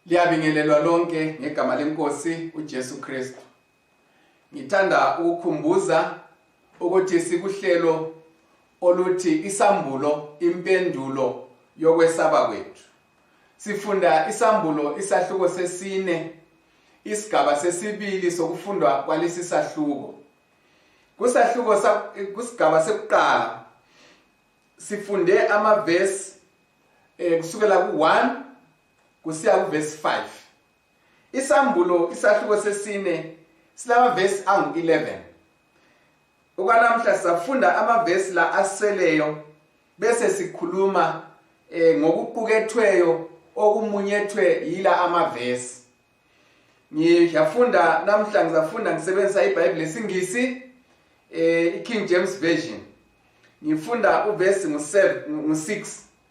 liyabingelelwa lonke ngegama lenkosi ujesu kristu ngithanda ukukhumbuza ukuthi sikuhlelo oluthi isambulo impendulo yokwesaba kwethu sifunda isambulo isahluko sesine isigaba sesibili sokufundwa kwalesi sahluko kusahluko kusigaba sekuqala sifunde amavesi eh kusukela ku1 kusiya kuvesi 5 isambulo isahluko sesine silamavesi angu-11 okwanamhla safunda amavesi la aseleyo bese sikhuluma eh, ngokuqukethweyo okumunyethwe yila amavesi ngiyafunda namhla ngizafunda ngisebenzisa ibhayibhile esingisi eh, i-king james version ngifunda uvesi ngu-6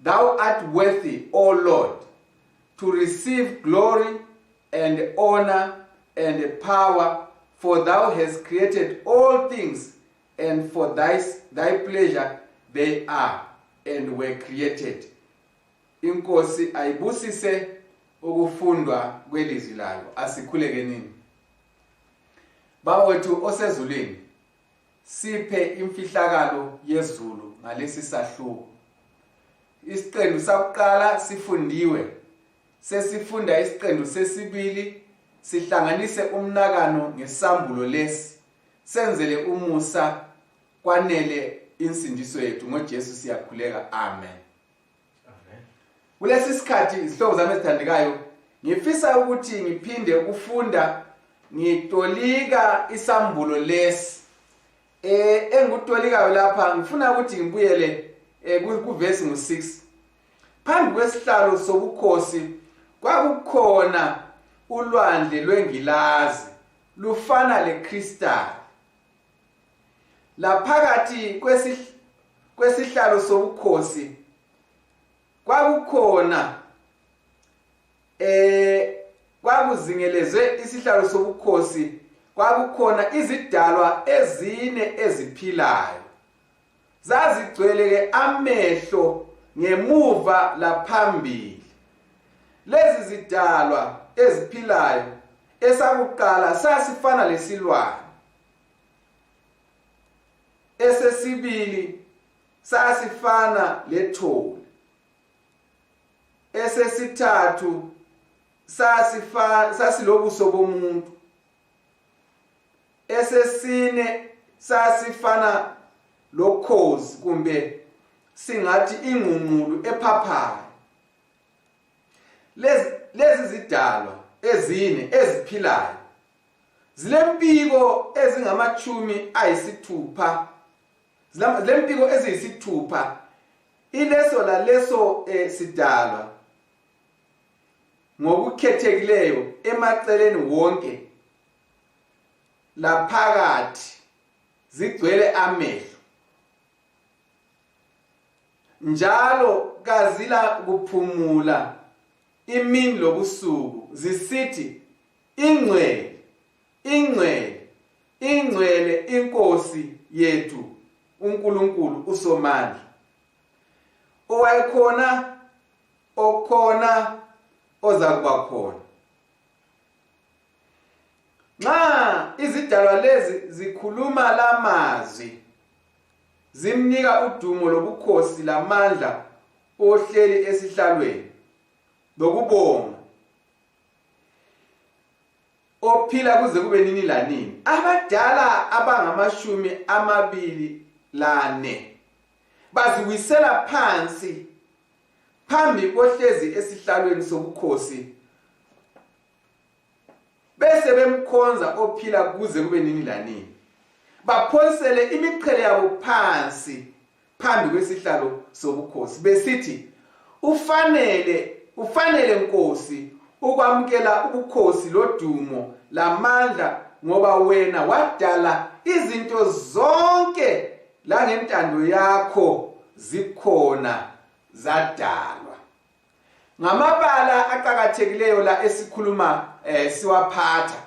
Thou art worthy, O Lord, to receive glory and honor and power, for thou hast created all things, and for thy, thy pleasure they are and were created. Inkosi ayibusise ukufundwa kwelizwi layo asikhulekenini. Bawethu osezulwini siphe imfihlakalo yezulu ngalesi sahluko isiqendu sakuqala sifundiwe sesifunda isiqendu sesibili sihlanganise umnakano ngesambulo lesi senzele umusa kwanele insindiso yethu ngoJesu siyakhuleka amen kulesi sikhathi izihlobo zami ezithandekayo ngifisa ukuthi ngiphinde ukufunda ngitolika isambulo lesi eh engikutolikayo lapha ngifuna ukuthi ngibuyele eh, kuvesi ngu-6 phambi kwesihlalo sobukhosi kwakukhona ulwandle lwengilazi lufana lekristali laphakathi kwesihlalo sobukhosi kwakukhona eh kwakuzingelezwe isihlalo sobukhosi kwakukhona izidalwa ezine eziphilayo zazigcweleke amehlo ngemuva laphambili lezi zidalwa eziphilayo esakuqala sasifana lesilwane esesibili sasifana lethole esesithathu sasifa sasilobuso bomuntu esesine sasifana lokhozi kumbe singathi ingqungqulu ephaphayo lezi lezi zidalwa ezine eziphilayo zilempiko ezingamatshumi ayisithupha zilempiko eziyisithupha ileso laleso eh, sidalwa ngokukhethekileyo emaceleni wonke laphakathi zigcwele amehlo njalo kazila kuphumula imini lobusuku zisithi ingcwele ingcwele ingcwele inkosi yethu uNkulunkulu uSomandla owayekhona okhona ozakuba khona nxa izidalwa lezi zikhuluma lamazwi zimnika udumo lobukhosi lamandla ohleli esihlalweni lokubonga ophila kuze kube nini lanini abadala abangamashumi amabili lane baziwisela phansi phambi kohlezi esihlalweni sobukhosi bese bemkhonza ophila kuze kube nini lanini baphonsele imiqhele yabo phansi phambi kwesihlalo sobukhosi besithi ufanele ufanele nkosi ukwamukela ubukhosi lodumo lamandla ngoba wena wadala izinto zonke langentando yakho zikhona zadalwa ngamabala aqakathekileyo la esikhuluma eh, siwaphatha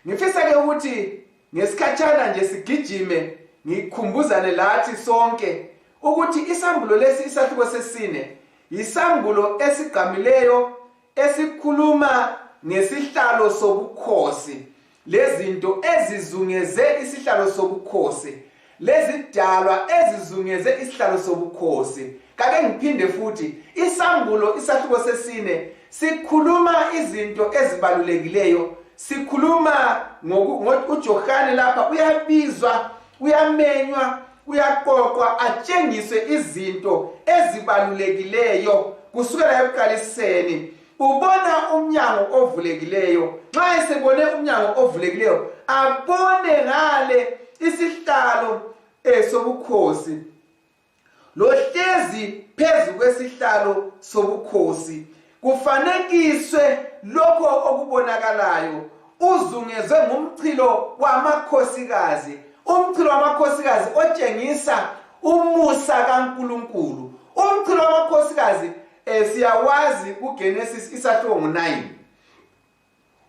ngifisa ke ukuthi ngesikhatshana nje sigijime ngikhumbuzane lathi sonke ukuthi isambulo lesi isahluko sesine yisambulo esigqamileyo esikhuluma ngesihlalo sobukhosi lezinto ezizungeze isihlalo sobukhosi lezidalwa ezizungeze isihlalo sobukhosi kake ngiphinde futhi isambulo isahluko sesine sikhuluma izinto ezibalulekileyo sikhuluma uJohane lapha uyabizwa uyamenywa uyaqoqwa atshengiswe izinto ezibalulekileyo kusukela ekuqaliseni ubona umnyango ovulekileyo nxa esebone umnyango ovulekileyo abone ngale isihlalo eh, sobukhosi lohlezi phezu kwesihlalo sobukhosi kufanekiswe lokho okubonakalayo uzungezwe ngumchilo wamakhosikazi umchilo wamakhosikazi otshengisa umusa kaNkuluNkulu umchilo wamakhosikazi eh siyawazi uGenesis isahluko 9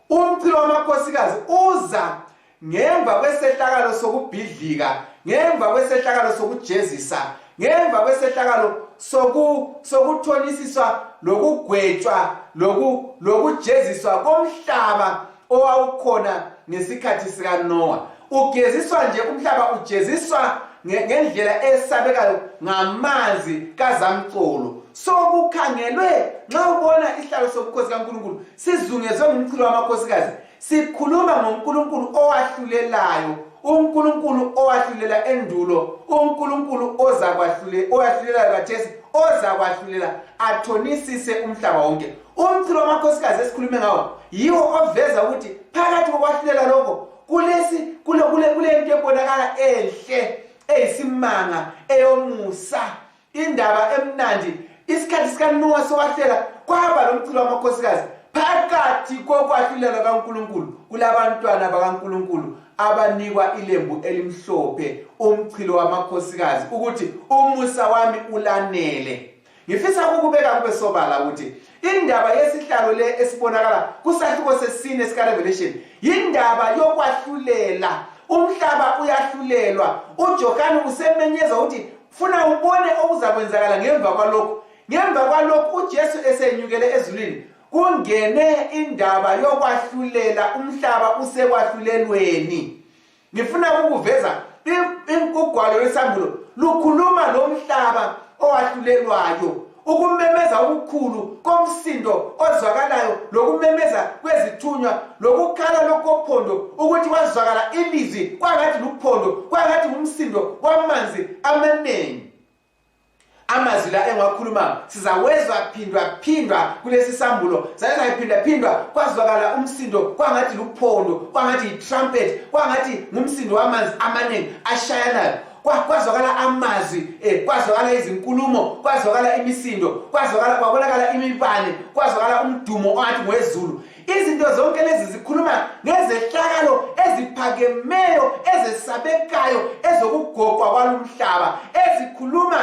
umchilo wamakhosikazi uza ngemva kwesehlakalo sokubhidlika ngemva kwesehlakalo sokujezisa ngemva kwesehlakalo soku sokuthonisiswa lokugwetshwa loku lokujeziswa komhlaba owawukhona ngesikhathi sikanowa ugeziswa nje umhlaba ujeziswa ngendlela esabekayo ngamanzi kazamcolo so kukhangelwe nxa ubona isihlalo sobukhosi kankulunkulu sizungezwe ngumchilo wamakhosikazi sikhuluma ngonkulunkulu owahlulelayo unkulunkulu owahlulela endulo unkulunkulu ozakwahlulela owahlulelayo kathesi ozakwahlulela athonisise umhlaba wonke umchilo wamakhosikazi esikhulume ngawo yiwo oveza ukuthi phakathi kokwahlulela lokho kulesi kule kule kule into ebonakala enhle eyisimanga eyomusa indaba emnandi isikhathi sikaNowa sokwahlela kwaba lomchilo wamakhosikazi phakathi kokwahlulela kaNkuluNkulu kulabantwana bakaNkuluNkulu abanikwa ilembu elimhlophe umchilo wamakhosikazi ukuthi umusa wami ulanele ngifisa ukubeka kube sobala ukuthi indaba yesihlalo le esibonakala kusahluko sesine sikarevelation yindaba yokwahlulela umhlaba uyahlulelwa ujohane usemenyeza ukuthi funa ubone okuzakwenzakala ngemva kwalokhu ngemva kwalokhu ujesu esenyukele ezulwini kungene indaba yokwahlulela umhlaba usekwahlulelweni ngifuna ukuveza ugwalo lwesambulo lukhuluma lomhlaba owahlulelwayo ukumemeza okukhulu komsindo ozwakalayo lokumemeza kwezithunywa lokukhala lokophondo ukuthi kwazwakala ilizwi kwangathi luphondo kwangathi ngumsindo wamanzi amanengi amazwi la engiwakhuluma sizawezwa phindwa phindwa kulesi sambulo zaye zayiphinda phindwa kwazwakala umsindo kwangathi luphondo kwangathi yitrumpet kwangathi ngumsindo wamanzi amaningi ashayanayo kwazwakala amazwi eh, kwazwakala izinkulumo kwazwakala imisindo kwazwakala kwabonakala imibane kwazwakala umdumo ongathi ngwezulu izinto zonke lezi zikhuluma ngezehlakalo eziphakemeyo ezesabekayo ezokugogwa kwalumhlaba ezikhuluma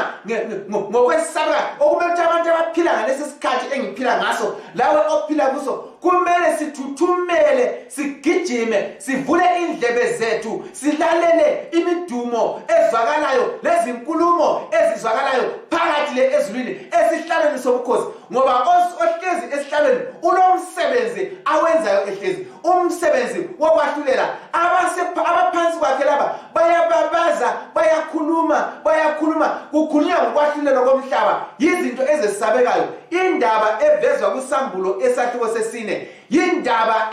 ngokwesaba okumele ukuthi abantu abaphila ngalesi sikhathi engiphila ngaso lawe ophila kuso kumele sithuthumele sigijime sivule indlebe zethu silalele imidumo ezwakalayo lezinkulumo ezizwakalayo phakathi le ezulwini esihlalweni sobukhosi ngoba ohlezi esihlalweni unomsebenzi awenzayo ehlezi umsebenzi wokwahlulela abaphansi kwakhe laba bayababaza bayakhuluma bayakhuluma kukhulunywa ngokwahlulelwa komhlaba yizinto ezesabekayo indaba evezwa kusambulo esahluko sesine yindaba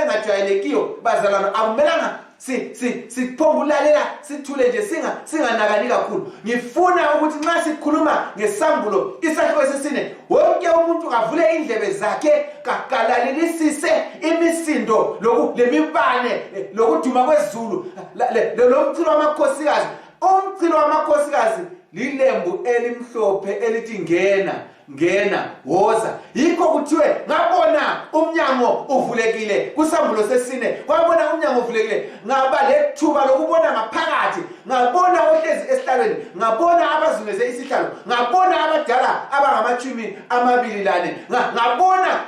engajwayelekiyo bazalwana akumelanga si si siphonga ulalela sithule nje singa singanakani kakhulu ngifuna ukuthi nxa sikhuluma ngesambulo isakhiwo esisine wonke umuntu avule indlebe zakhe kakalalelisise imisindo lemibane lokuduma kwezulu lomchilo wamakhosikazi umchilo wamakhosikazi lilembu elimhlophe elithi ngena ngena woza yikho kuthiwe ngabona umnyango uvulekile kusambulo sesine kwabona umnyango uvulekile ngaba lethuba lokubona ngaphakathi ngabona ohlezi esihlalweni ngabona abazungeze isihlalo ngabona abadala abangamatshumi amabili lane ngabona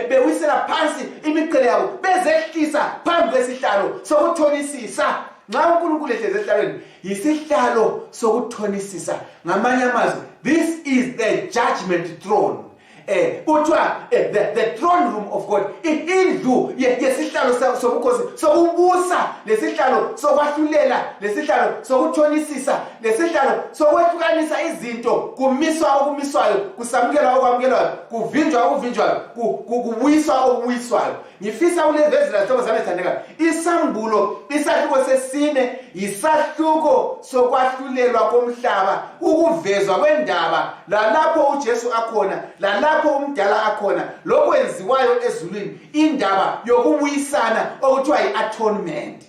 bewisela phansi imiqele yabo bezehlisa phambi kwesihlalo sokuthonisisa nxa unkulunkulu ehlezi esihlalweni yisihlalo sokuthonisisa ngamanye amazwi this is the judgment throne eh kuthiwa eh, the, the throne room of god indlu yesihlalo sobukhosi sokubusa lesihlalo sokwahlulela lesihlalo sokuthonisisa lesihlalo sokwehlukanisa izinto kumiswa okumiswayo kusamukelwa okwamukelwayo kuvinjwa okuvinjwayo kubuyiswa okubuyiswayo ngifisa ulevezela zihlobo zami ezithandekayo isambulo isahluko sesine yisahluko sokwahlulelwa komhlaba ukuvezwa kwendaba lalapho ujesu akhona lalapho umdala akhona lokwenziwayo ezulwini indaba yokubuyisana okuthiwa yi-atonement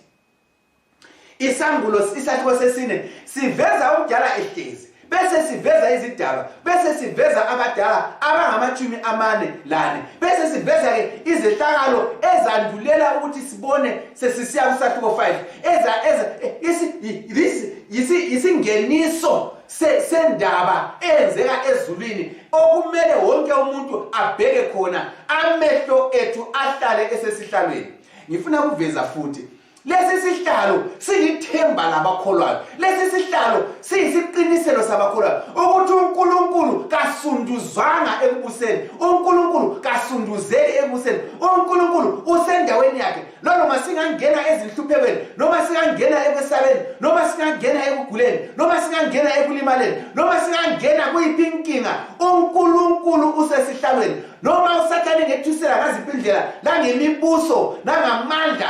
isambulo isakhiwo sesine siveza omdala ehlezi bese siveza izidalwa bese siveza abadala abangamatshumi amane lane bese siveza-ke izehlakalo ezandulela ukuthi sibone sesisiya kusahluko 5 yisingeniso sendaba eyenzeka ezulwini okumele wonke umuntu abheke khona amehlo ethu ahlale esesihlalweni ngifuna kuveza futhi lesi sihlalo silithemba labakholwayo lesi sihlalo siyisiqiniselo sabakholwayo ukuthi unkulunkulu kasunduzwanga ekubuseni unkulunkulu kasunduzeli ekubuseni unkulunkulu usendaweni yakhe nanoma singangena ezinhluphekweni noma singangena ekwesabeni noma singangena ekuguleni noma singangena ekulimaleni noma singangena kuyiphi inkinga unkulunkulu usesihlalweni noma usathane ngethusela ngaziphi indlela nangemibuso nangamandla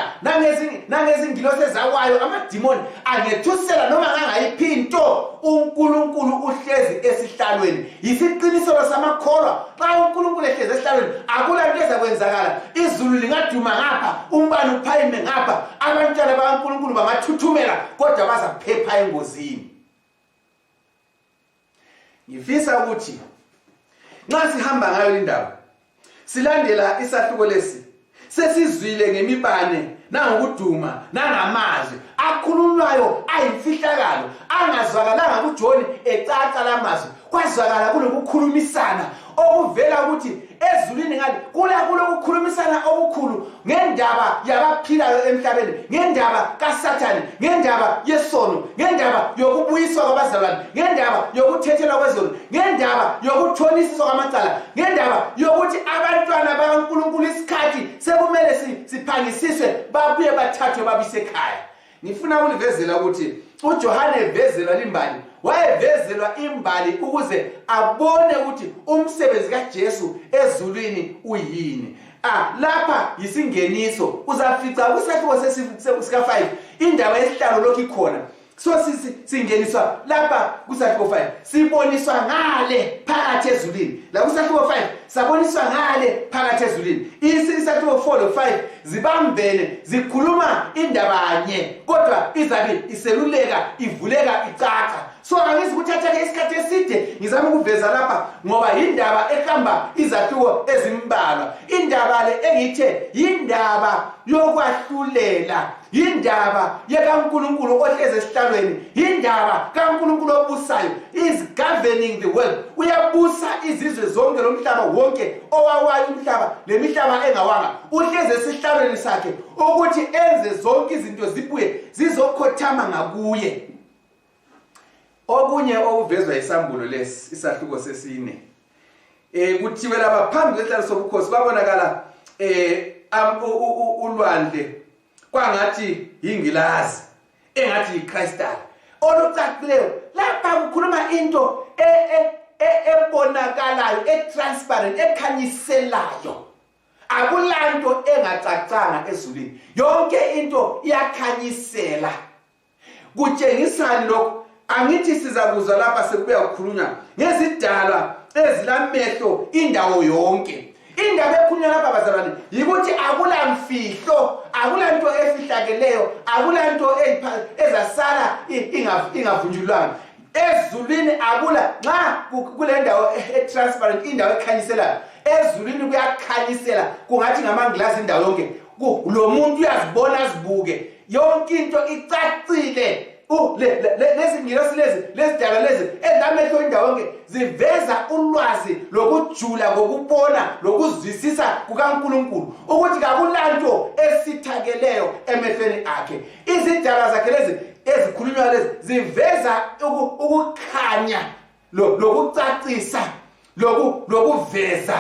nangezingilosi ezakwayo amadimoni angethusela noma ngangayiphi into unkulunkulu uhlezi esihlalweni yisiqiniselo samakholwa xa unkulunkulu ehlezi esihlalweni akula nto ezakwenzakala izulu lingaduma ngapha umbani uphayime ngapha abantwana bakankulunkulu bangathuthumela kodwa bazaphepha engozini ngifisa ukuthi nxa sihamba ngayo lindawo silandela isahluko lesi sesizwile ngemibane nangokuduma nangamazwi akhululwayo ayimfihlakalo angazwakalanga kujoni ecaca lamazwi kwazwakala kulokukhulumisana okuvela ukuthi ezulwini ngale kula kulokukhulumisana okukhulu ngendaba yabaphilayo emhlabeni ngendaba kasathane ngendaba yesono ngendaba yokubuyiswa kwabazalwane ngendaba yokuthethelwa kwezulu ngendaba yokuthonisiswa kwamacala ngendaba yokuthi abantwana bakankulunkulu isikhathi sekumele siphangisiswe babuye bathathwe babisekhaya ngifuna ukulivezela ukuthi ujohane evezelwa limbali wayevezelwa imbali ukuze abone ukuthi umsebenzi kajesu ezulwini uyini ah lapha yisingeniso uzafica kusakhiwo sika-5 indawo yesihlalo lokhu ikhona so singeniswa lapha kusahluko 5 siboniswa ngale phakathi ezulwini la kusahluko 5 saboniswa ngale phakathi ezulwini isahluko 4 lo 5 zibambene zikhuluma indabanye kodwa izabe iseluleka ivuleka icaca so angizi kuthatheke isikhathi eside ngizama ukuveza lapha ngoba yindaba ehamba izahluko ezimbalwa indaba le engithe yindaba yokwahlulela yindaba yekankulunkulu ohlezi esihlalweni yindaba kankulunkulu obusayo is governing the world uyabusa izizwe zonke lomhlaba wonke owawayo umhlaba lemihlaba engawanga uhlezi esihlalweni sakhe ukuthi enze zonke izinto zibuye zizokhothama ngakuye okunye okuvezwa isambulo lesi isahluko sesine eh kuthiwe laba phambi kwehlalo sobukhosi babonakala eh ulwandle kwangathi yingilazi engathi yiCrystal olucacileyo lapha kukhuluma into e, e, e, ebonakalayo etransparent ekhanyiselayo akulanto engacacanga ezulwini yonke into iyakhanyisela kutshengisani lokhu angithi sizakuzwa lapha sekubuya kukhulunywa ngezidalwa ezilamehlo indawo yonke indaba ekhulunywa lapha bazalwane yikuthi akulamfihlo akulanto efihlakeleyo akulanto ezasala ingavunjulwanga ezulwini akula nxa kule ndawo e-transparent indawo ekhanyiselayo ezulwini kuyakhanyisela kungathi ngamangilazi indawo yonke lo muntu uyazibona azibuke yonke into icacile lezingilosi lezi lezidalwa lezi ezilamehlo indawo yonke ziveza ulwazi lokujula kokubona lokuzwisisa kukankulunkulu ukuthi kakulanto esithakeleyo emehlweni akhe izidalwa zakhe lezi ezikhulunywa lezi ziveza ukukhanya lokucacisa lokuveza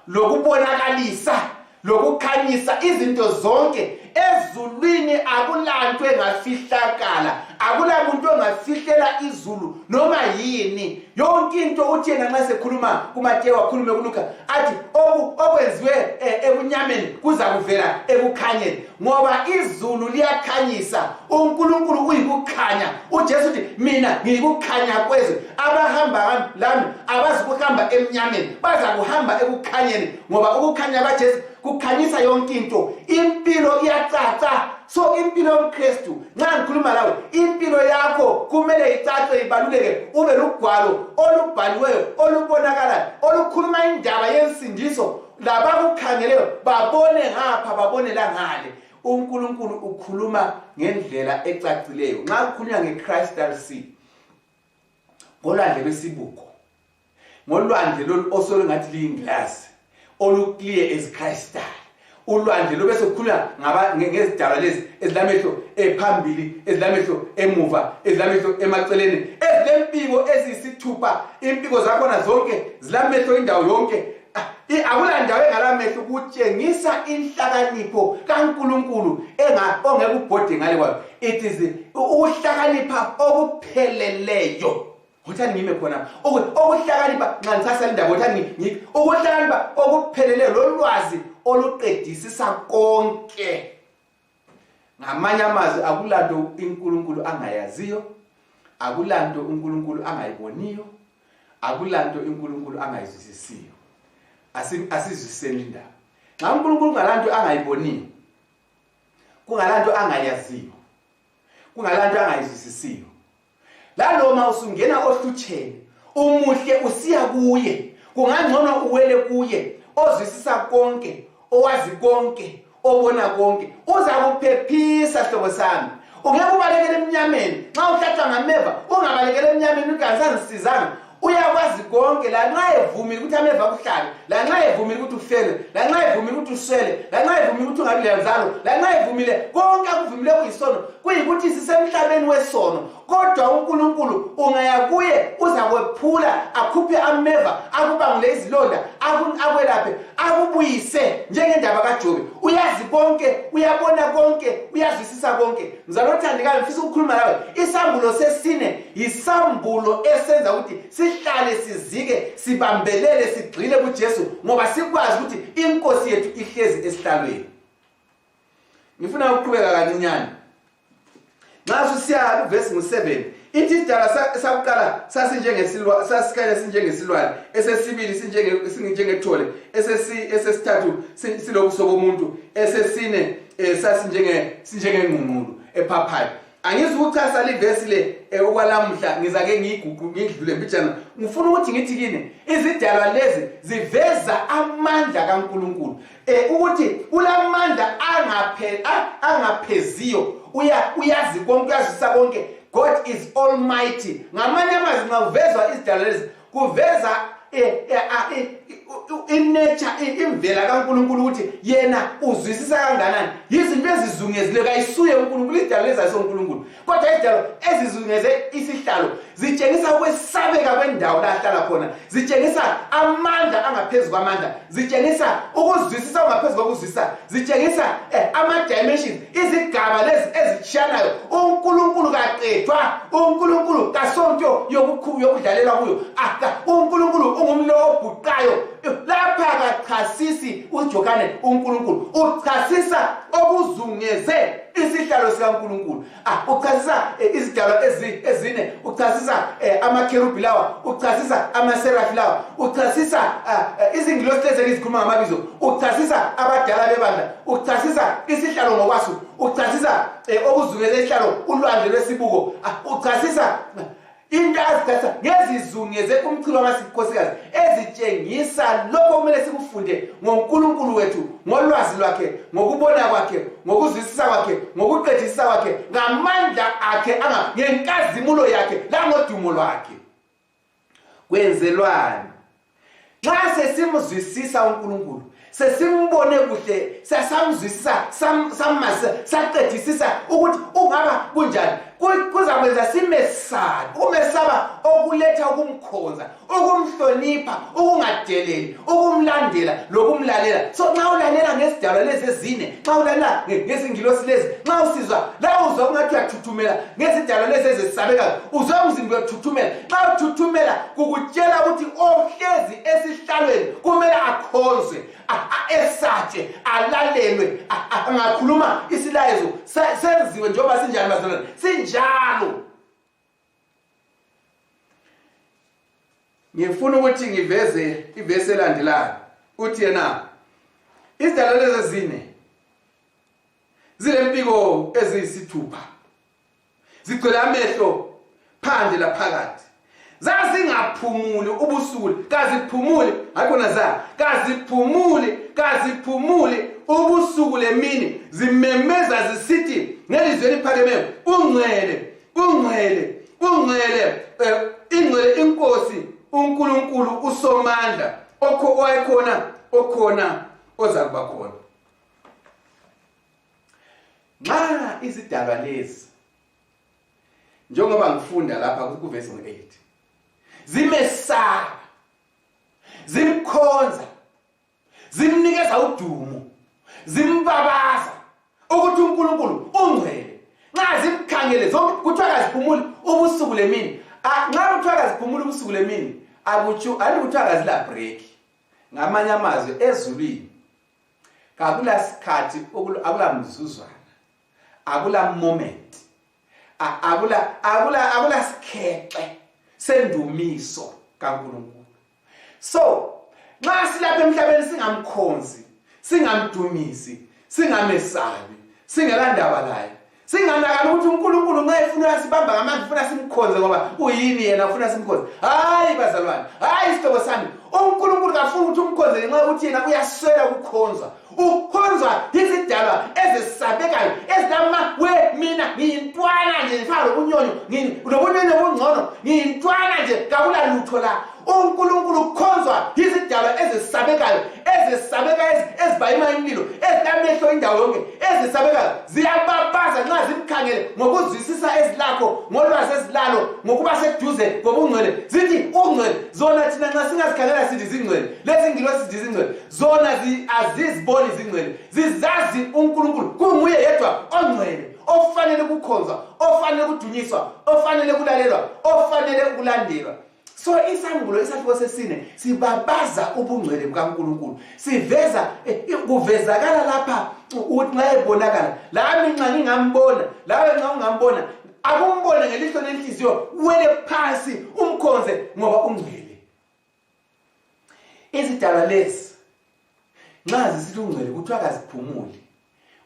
lokubonakalisa lokukhanyisa izinto zonke ezulwini akulanto engafihlakala akulamuntu ongafihlela izulu noma yini yonke into uthi yena nxa sekhuluma kumatewu akhulume kuluka athi okwenziwe eh, ebunyameni kuza kuvela ekukhanyeni ngoba izulu liyakhanyisa uNkulunkulu uyikukhanya uJesu uthi mina ngiyikukhanya kwezwe abahamba lami abazi kuhamba emnyameni baza kuhamba ekukhanyeni ngoba ukukhanya kwaJesu kukhanyisa yonke into impilo iyacaca so impilo yomkristu nxa ngikhuluma lawe impilo yakho kumele icace ibaluleke ube lugwalo olubhaliweyo olubonakalayo olukhuluma indaba yensindiso labakukhangeleyo babone ngapha babone langale unkulunkulu ukhuluma ngendlela ecacileyo nxa kukhulunywa ngecrystal sea ngolwandle lwesibuko ngolwandle lolu osolungathi liyingilazi olukliye ezicrystal ulwandle lube sekukhulunywa ngezidalwa lezi ezilamehlo ephambili ezilamehlo emuva ezilamehlo emaceleni ezilempiko eziyisithupha impiko zakhona zonke zilamehlo indawo yonke akulandawo engalamehlo kutshengisa inhlakanipho kaNkulunkulu ongeke ubhode ngale kwayo it is ukuhlakanipha okupheleleyo ngothani ngime khona okuhlakanipha nxa ngisasala indaba ngothani ukuhlakanipha okupheleleyo lolwazi oluqedisisa konke ngamanye amazwi akulanto uNkulunkulu angayaziyo akulanto uNkulunkulu angayiboniyo akulanto uNkulunkulu angayizwisisiyo asizwiseni indaba nxa uNkulunkulu kungalanto angayiboniyo kungalanto angayaziyo kungalanto angayizwisisiyo laloma usungena ohlutsheni umuhle usiya kuye kungangcono uwele kuye ozwisisa konke owazi konke obona konke uzakuphephisa hlobo sami ungeke ubalekele emnyameni nxa uhlatshwa ngameva ungabalekele emnyameni ugansazisizanga uyakwazi konke lanxa evumile ukuthi ameva kuhlabe lanxa evumile ukuthi ufele lanxa evumile ukuthi uswele lanxa evumile ukuthi ungabi lenzalo lanxa evumile konke akuvumile kuyisono kuyikuthi sisemhlabeni wesono kodwa unkulunkulu ungaya kuye uzakwephula akhuphe ameva akubangule izilonda akwelaphe akubuyise njengendaba kajobe uyazi konke uyabona konke uyazwisisa konke mzalothandekayo ngifisa ukukhuluma lawe isambulo sesine yisambulo esenza ukuthi sihlale sizike sibambelele sigxile kuJesu ngoba sikwazi ukuthi inkosi yethu ihlezi esihlalweni ngifuna ukuqhubeka kancinyane nxa susiya kuvesi ngu-7 ithi isidala sakuqala sasikanye sinjengesilwane esesibili sinjengethole esesithathu silobuso bomuntu esesine um sasinjengengqungqulu ephaphayo angizukuchasa livesi le eh, okwalamuhla ngizake ngiyiguqu ngidlule mbijana ngifuna ukuthi ngithi kini izidalwa lezi ziveza amandla kaNkuluNkulu eh ukuthi ulamandla angaphe angapheziyo uya uyazi konke uyazisa konke God is almighty ngamanye amazwi nxa uvezwa izidalwa lezi kuveza eh, eh, ah, eh, inature imvela kaNkuluNkulu ukuthi yena uzwisisa kanganani yizinto ezizungezile kayisuye uNkuluNkulu idalo lezayiso uNkuluNkulu kodwa idalo ezizungeze isihlalo zitshengisa ukwesabeka kwendawo la ahlala khona zitshengisa amandla angaphezulu kwamandla zitshengisa ukuzwisisa okungaphezu kokuzwisisa zitshengisa eh, ama-dimensions izigaba lezi ezitshiyanayo unkulunkulu kaqethwa unkulunkulu kasonto yokudlalela kuyo aka unkulunkulu ungumlo obhuqayo lapha kachasisi ujohane unkulunkulu uchasisa okuzungeze isihlalo sikankulunkulu Ah, uchazisa eh, izidalwa ezine uchazisa eh, amakherubhi lawa uchazisa amaserafi lawa uchazisa ah, eh, izingilosi lezi engizikhuluma ngamabizo uchazisa abadala bebandla uchazisa isihlalo ngokwaso uchazisa okuzungele isihlalo ulwandle lwesibuko ah, uchazisa into azithatha ngezizungeze umchilo wamasikhosikazi ezitshengisa lokho kumele sikufunde ngonkulunkulu wethu ngolwazi lwakhe ngokubona kwakhe ngokuzwisisa kwakhe ngokuqedisisa kwakhe ngamandla akhe ngenkazimulo yakhe langodumo lwakhe kwenzelwani nxa sesimzwisisa unkulunkulu sesimbone kuhle sesamzwisisa sammazisa saqedisisa ukuthi ungaba kunjani kuzakwenza simesabi ukumesaba okuletha ukumkhonza ukumhlonipha ukungadeleli ukumlandela lokumlalela so nxa ulalela ngezidalwa lezi ezine nxa ulalela ngezingilosi lezi nxa usizwa lawo uzwa kungathi uyathuthumela ngezidalwa lezi ezesabekayo uzwa umzimba uyathuthumela nxa uthuthumela kukutshela ukuthi ohlezi esihlalweni kumele akhonzwe esatshe alalelwe angakhuluma isilayezo senziwe njengoba sinjani bazalwane sinjalo ngifuna ukuthi ngiveze ivesi elandelayo uthi yena izidalwa lezi ezine zilempiko eziyisithupha zigcwele amehlo phandle laphakathi zazingaphumuli ubusuku kaziphumuli hayikhona za kaziphumuli kaziphumuli ubusuku lemini zimemeza zisithi ngelizwi eliphakemeyo ungcwele ungcwele ungcwele eh, ingcwele inkosi unkulunkulu usomandla owayekhona okhona ozakuba khona nxa izidalwa lezi njengoba ngifunda lapha kuvesi ngu-8 zimesaba zimkhonza zimnikeza udumo zimbabaza ukuthi unkulunkulu ungcwele nxa zimkhangele kuthiwa kaziphumuli ubusuku lemini nxa kuthiwa kaziphumuli ubusuku lemini akutsho ani kuthiwa kazilabreak ngamanye amazwi ezulwini akulasikhathi akulamzuzwana akula moment akula akula akula sikhexe sendumiso kaNkulunkulu so nxa silapha emhlabeni singamkhonzi singamdumisi singamesabi singelandaba laye singanakani ukuthi unkulunkulu nxa efuna uyasibamba ngamandla ufuna simkhonze ngoba uyini yena ufuna simkhonze hayi bazalwane hayi isihlobo sami unkulunkulu kafuni ukuthi umkhonze ngenxa yokuthi yena uyaswela ukukhonzwa ukhonzwa yizidalwa ezisabekayo ezilama we mina ngiyintwana nje ngifana lobunyonyo lobunyonyo obungcono ngiyintwana nje kakula lutho la unkulunkulu ukhonzwa yizidalwa ezisabekayo ezisabekayo ezibayima imlilo ezilamehlo indawo yonke ezisabekayo ziyababaza nxa zimkhangele ngokuzwisisa ezilakho ngolwazi ezilalo ngokuba seduze ngobungcwele zithi ungcwele zona thina nxa singazikhangela sithi zingcwele lezi ngilo sithi zingcwele zona aziziboni zingcwele zizazi unkulunkulu kunguye yedwa ongcwele ofanele ukukhonzwa ofanele ukudunyiswa ofanele ukulalelwa ofanele ukulandelwa so isambulo isahluko sesine sibabaza ubungcwele bukankulunkulu siveza eh, eh, kuvezakala lapha ukuthi nxa ebonakala lami nxa ngingambona lawe nxa ungambona akumbone ngelihlo lenhliziyo wele phansi umkhonze ngoba ungcwele izidalwa lezi nxa zisithi ungcwele kuthiwa kaziphumuli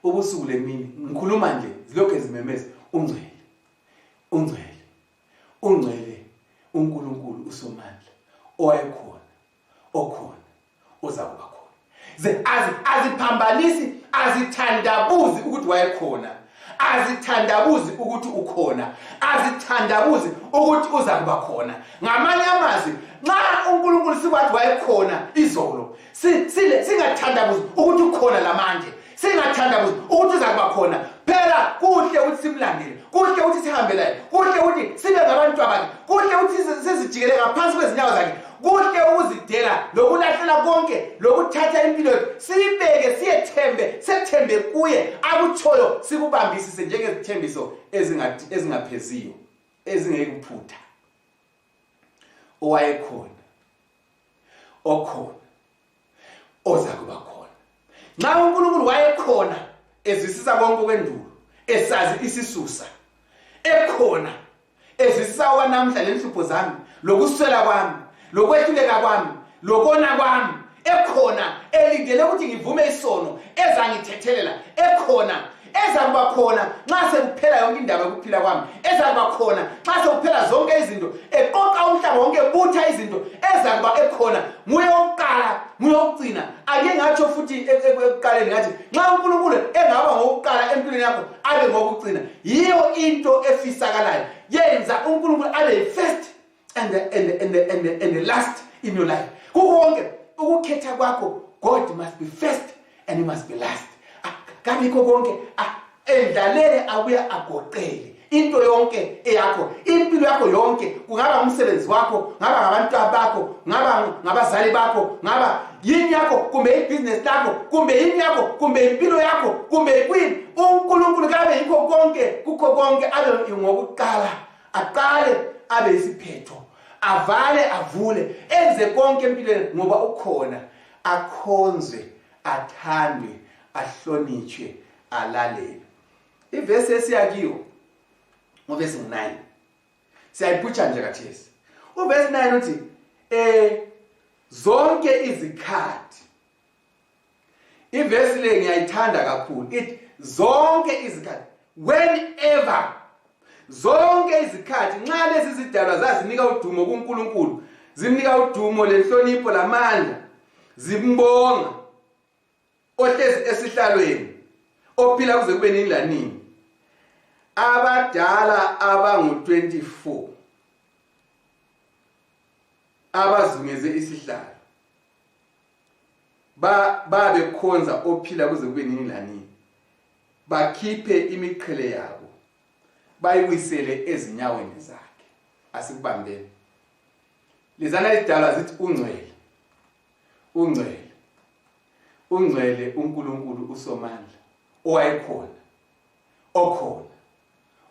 ubusuku lemini ngikhuluma nje zilokhu ezimemeza ungcwele ungcwele ungcwele uNkulunkulu uSomandla owayekhona okhona ozakuba khona ze aziphambanisi azithandabuzi ukuthi wayekhona azithandabuzi ukuthi ukhona azithandabuzi ukuthi uzakuba khona ngamanye amazwi nxa uNkulunkulu sikwathi wayekhona izolo Si- sile- singathandabuzi ukuthi ukhona lamanje singathandabuzi ukuthi uza kuba khona phela kuhle ukuthi simlandele kuhle ukuthi sihambe laye kuhle ukuthi sibe ngabantu bakhe kuhle ukuthi sizi- sizijikele ngaphansi kwezinyawo zakhe kuhle ukuzidela lokulahlela konke lokuthatha impilo yethu siyibeke siyethembe sethembe kuye akutshoyo sikubambisise njengezithembiso ezingathi- ezingapheziyo ezingeyikuphutha owayekhona okhona oza kuba khona nxa unkulunkulu wayekhona ezisisa konke okwendulo esazi isisusa ekhona ezisisa okwanamhla lenhlupho zami lokuswela kwami lokwehluleka kwami lokona kwami ekhona elindele ukuthi ngivume isono ezangithethelela ekhona ezakuba khona nxa sekuphela yonke indaba yokuphila kwami ezakuba khona nxa sekuphela zonke izinto eqoqa umhlaba wonke ebutha izinto ezakuba ekhona nguye wokuqala nguye wokucina ake ngatsho futhi e, e, ekuqaleni ngathi nxa unkulunkulu engaba ngowokuqala empilweni yakho abe ngowokucina yiyo into efisakalayo yenza unkulunkulu abe yi-first and the, and the, and the, and the, and the last in your life kukonke ukukhetha kwakho god must be first and he must be last ah, kabikho konke ah, endlalele abuye agoqele into yonke eyakho impilo yakho yonke kungaba umsebenzi wakho ngaba ngabantu bakho ngaba ngabazali bakho ngaba yini yakho kumbe ibhizinesi lakho kumbe yini yakho kumbe impilo yakho kumbe kwini unkulunkulu kabe yikho konke kukho konke abe ngokuqala aqale abe yisiphetho avale avule enze konke empilweni ngoba ukhona akhonzwe athandwe ahlonitshwe alalele ivesi esiyakiwo nguvesi 9 siyayiputsha nje kathesi uvesi 9 uthi um zonke izikhathi ivesi le ngiyayithanda kakhulu ithi zonke izikhathi whenever zonke izikhathi nxa lezi zidalwa zazinika udumo kunkulunkulu zimnika udumo lenhlonipho lamandla zimbonga ohlezi esihlalweni ophila kuze kube nini lanini abadala abangu-24 abazungeze isihlalo babekhonza ba ophila kuze kube nini lanini bakhiphe imiqhele yabo bayiwisele ezinyaweni zakhe asikubambeni lizana lidala zithi ungcwele ungcwele ungcwele uNkulunkulu uSomandla owayekhona okhona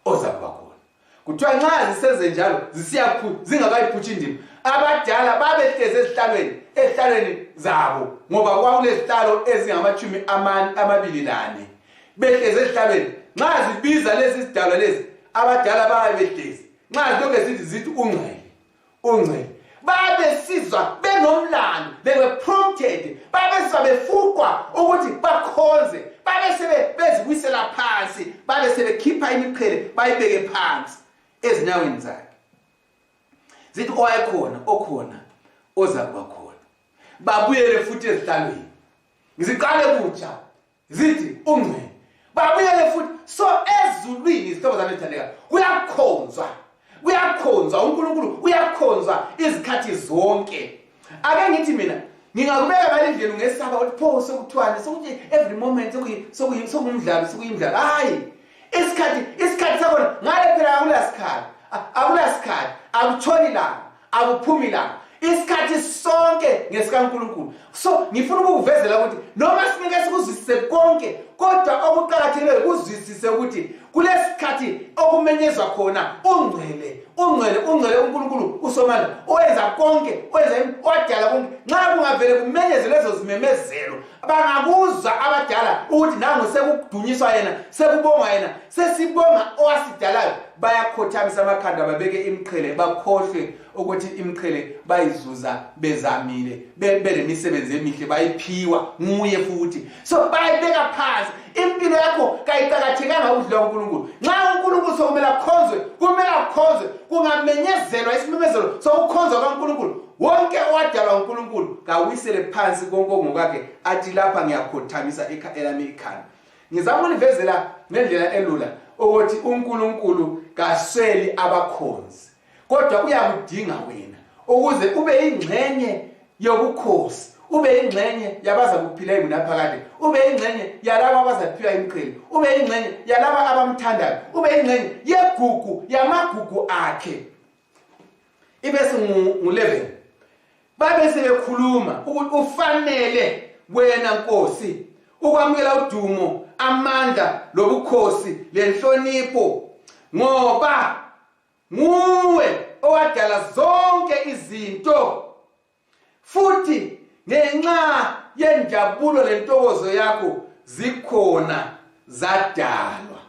oza kuba khona kuthiwa nxa zisenze njalo zisiyakhulu zingakayiphutshi indima abadala babehlezi ezihlalweni ezihlalweni zabo ngoba kwakulezihlalo ezingamashumi amabili lane behlezi ezihlalweni nxa zibiza lezi zidalwa lezi abadala bayabehlezi nxa zilokhu zithi zithi ungcwele ungcele babesizwa benomlando they were prompted babesizwa befukwa ukuthi bakhonze babesebe bezibuyisela phansi babesebekhipha imiqhele bayibeke phansi ezinyaweni zakhe zithi owayekhona okhona ozakuba khona babuyele futhi ezihlalweni ngiziqale kutsha zithi ungcwele babuyele futhi so ezulwini izihlobo zami ezithandeka kuyakhonzwa kuyakhonzwa unkulunkulu uyakhonzwa izikhathi zonke ake ngithi mina ngingakubeka balindlelu ngesaba ukuthi pho sekuthiwani sokuthi every moment sokuyimdlalo sokuyimdlalo hhayi isikhathi isikhathi sakhona ngale phela akulasikhathi akulasikhathi akutshoni langa akuphumi langa isikhathi sonke ngesikaNkulunkulu so ngifuna ukukuvezela ukuthi noma singeke sikuzwisise konke kodwa okuqakathekileyo kuzwisise ukuthi kulesikhathi okumenyezwa khona ungcwele ungcwele ungcwele uNkulunkulu usomandla owenza konke owenza wadala konke nxa kungavele kumenyeze lezo zimemezelo bangabuza abadala ukuthi nangu sekudunyiswa yena sekubongwa yena sesibonga owasidalayo bayakhothamisa amakhanda babeke imiqhele bakhohlwe ukuthi imiqhele bayizuza bezamile belemisebenzi emihle bayiphiwa nguye futhi so bayibeka phansi impilo yakho kayiqakathekanga ukudlula unkulunkulu nxa unkulunkulu sokumele akhonzwe kumele akhonzwe kungamenyezelwa isimemezelo sokukhonzwa kankulunkulu wonke owadalwa uNkulunkulu kawisele phansi konke ongokakhe athi lapha ngiyakhothamisa elami ikhanda ngizama ukunivezela ngendlela elula ukuthi uNkulunkulu kasweli abakhonzi kodwa uyakudinga wena ukuze ube ingxenye yobukhosi ube ingxenye yabaza kuphila ingunaphakade ube ingxenye yalabo abazaphila imqhele ube ingxenye yalabo abamthandayo ube ingxenye yegugu yamagugu akhe ibe singu-11 babe sebekhuluma ukuthi ufanele wena nkosi ukwamukela udumo amandla lobukhosi lenhlonipho ngoba nguwe owadala zonke izinto futhi ngenxa yenjabulo lentokozo yakho zikhona zadalwa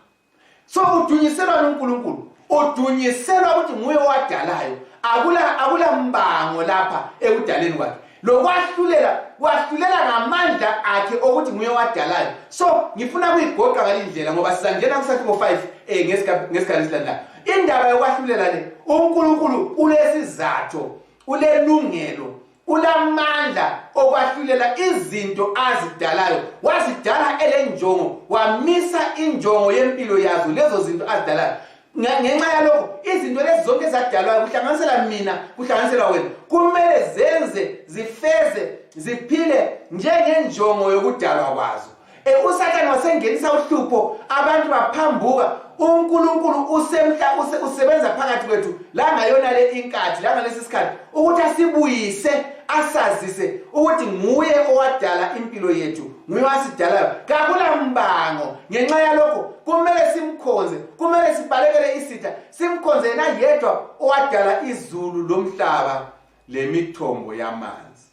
so udunyiselwa nonkulunkulu udunyiselwa ukuthi nguye owadalayo akula akula mbango lapha ekudaleni kwakhe lokwahlulela kwahlulela ngamandla akhe okuthi nguye owadalayo so ngifuna kuyigoqa ngale ndlela ngoba sizangena kusathi ngo-5 um eh, ngesikhathi esilandelayo indaba yokwahlulela le unkulunkulu ulesizatho ulelungelo ulamandla okwahlulela izinto azidalayo wazidala elenjongo wamisa injongo yempilo yazo lezo zinto azidalayo ngenxa yalokho izinto lezi zonke ezadalwayo kuhlanganisela mina kuhlanganisela wena kumele zenze zifeze ziphile njengenjongo yokudalwa kwazo E, usathane wasengenisa uhlupho abantu baphambuka unkulunkulu usemhla usebenza phakathi kwethu langayona le inkathi langalesi sikhathi ukuthi asibuyise asazise ukuthi nguye owadala impilo yethu nguye wasidalayo kakulambango ngenxa yalokho kumele simkhonze kumele sibalekele isitha simkhonze yena yedwa owadala izulu lomhlaba lemithombo yamanzi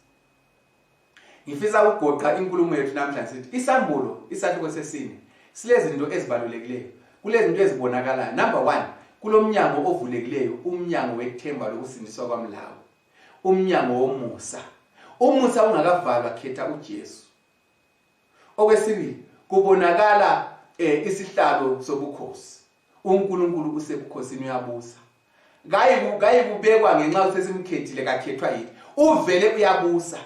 ngifisa ukugoqa inkulumo yethu namhlanje sithi isambulo isahluko sesine silezinto ezibalulekileyo kulezinto ezibonakalayo number one kulomnyango ovulekileyo umnyango wethemba lokusindiswa kwamlawo umnyango womusa umusa ungakavalwa khetha ujesu okwesibili kubonakala um isihlalo sobukhosi uNkulunkulu usebukhosini uyabusa kayikubekwa ngenxa ukuthi sesimkhethile kakhethwa yini uvele uyabusa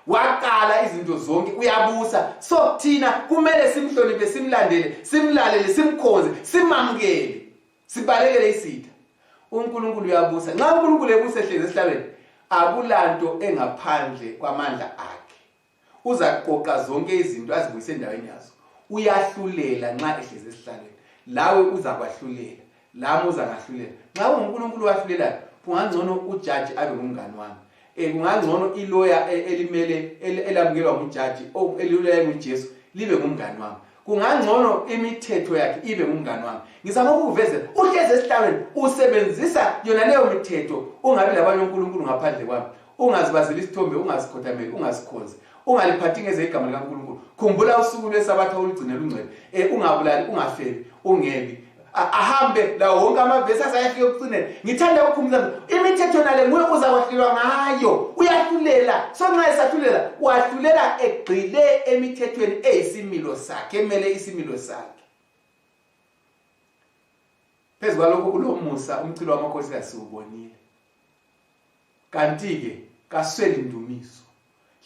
waqala izinto zonke uyabusa so thina kumele simhloniphe simlandele simlalele simkhonze simamukele sibalekele isitha uNkulunkulu uyabusa nxa uNkulunkulu ebusa ehlezi esihlalweni akulanto engaphandle kwamandla akhe uzaqoqa zonke izinto azibuyise endaweni yazo uyahlulela nxa ehlezi esihlalweni lawe uzakwahlulela lami uzangahlulela nxa ungunkulunkulu owahlulelayo kungangcono ujaji abe ngumngani wami um kungangcono iloya e, elimele elamukelwa ngujaji eliloya engujesu libe ngumngani wami kungangcono imithetho yakhe ibe ngumngani wami ngizama ukukuvezela uhlezi esihlalweni usebenzisa yona leyo mithetho ungabi labanye onkulunkulu ngaphandle kwami ungazibazeli isithombe ungazikhothameli ungazikhonzi ungaliphathi ngeze igama likankulunkulu khumbula usuku lwesabatha olugcine lungcwele um ungabulali ungafeli ungebi ahambe lawo wonke amavesi asayafika ekucineni ngithanda ukukhumbula imithetho nale nguye uzakwahlulwa ngayo uyahlulela so nxa esahlulela wahlulela egxile emithethweni eyisimilo sakhe emele isimilo sakhe phezu kwalokho ulomusa umchilo wamakhosi kasiwubonile kanti-ke kasweli ndumiso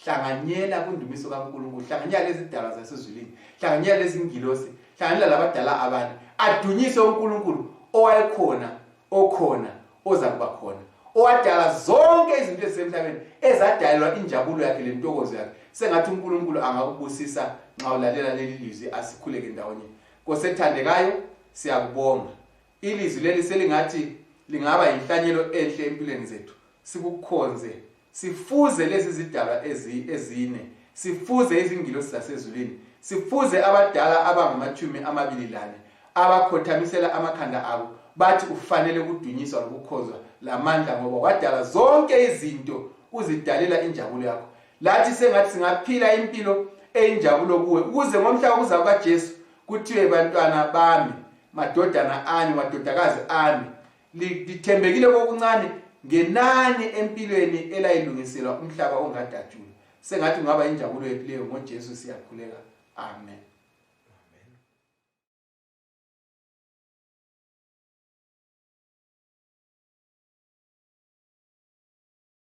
hlanganyela kwindumiso kankulunkulu hlanganyela lezidalwa zasezulwini hlanganyela lezingilosi hlanganyela labadala abanye adunyise unkulunkulu owayekhona okhona oza kuba khona owadala zonke izinto ezisemhlabeni ezadalelwa injabulo yakhe lentokozo yakhe sengathi unkulunkulu angakubusisa nxa ulalela leli lizwi asikhuleke ndawonye kosethandekayo siyakubonga ilizwi leli selingathi lingaba yinhlanyelo enhle empilweni zethu sikukhonze sifuze lezi zidalwa ezine sifuze izingilosi zasezulwini sifuze abadala abangamatshumi amabili lane abakhothamisela amakhanda abo bathi ufanele ukudunyiswa lokukhozwa lamandla ngoba wadala zonke izinto uzidalela injabulo yakho lathi sengathi singaphila impilo eyinjabulo kuwe ukuze ngomhla wokuza kukajesu kuthiwe bantwana bami madodana ami madodakazi ami lithembekile kokuncane ngenani empilweni elayilungiselwa umhlaba ongadatshulwa sengathi kungaba injabulo yethu leyo ngojesu siyakhuleka amen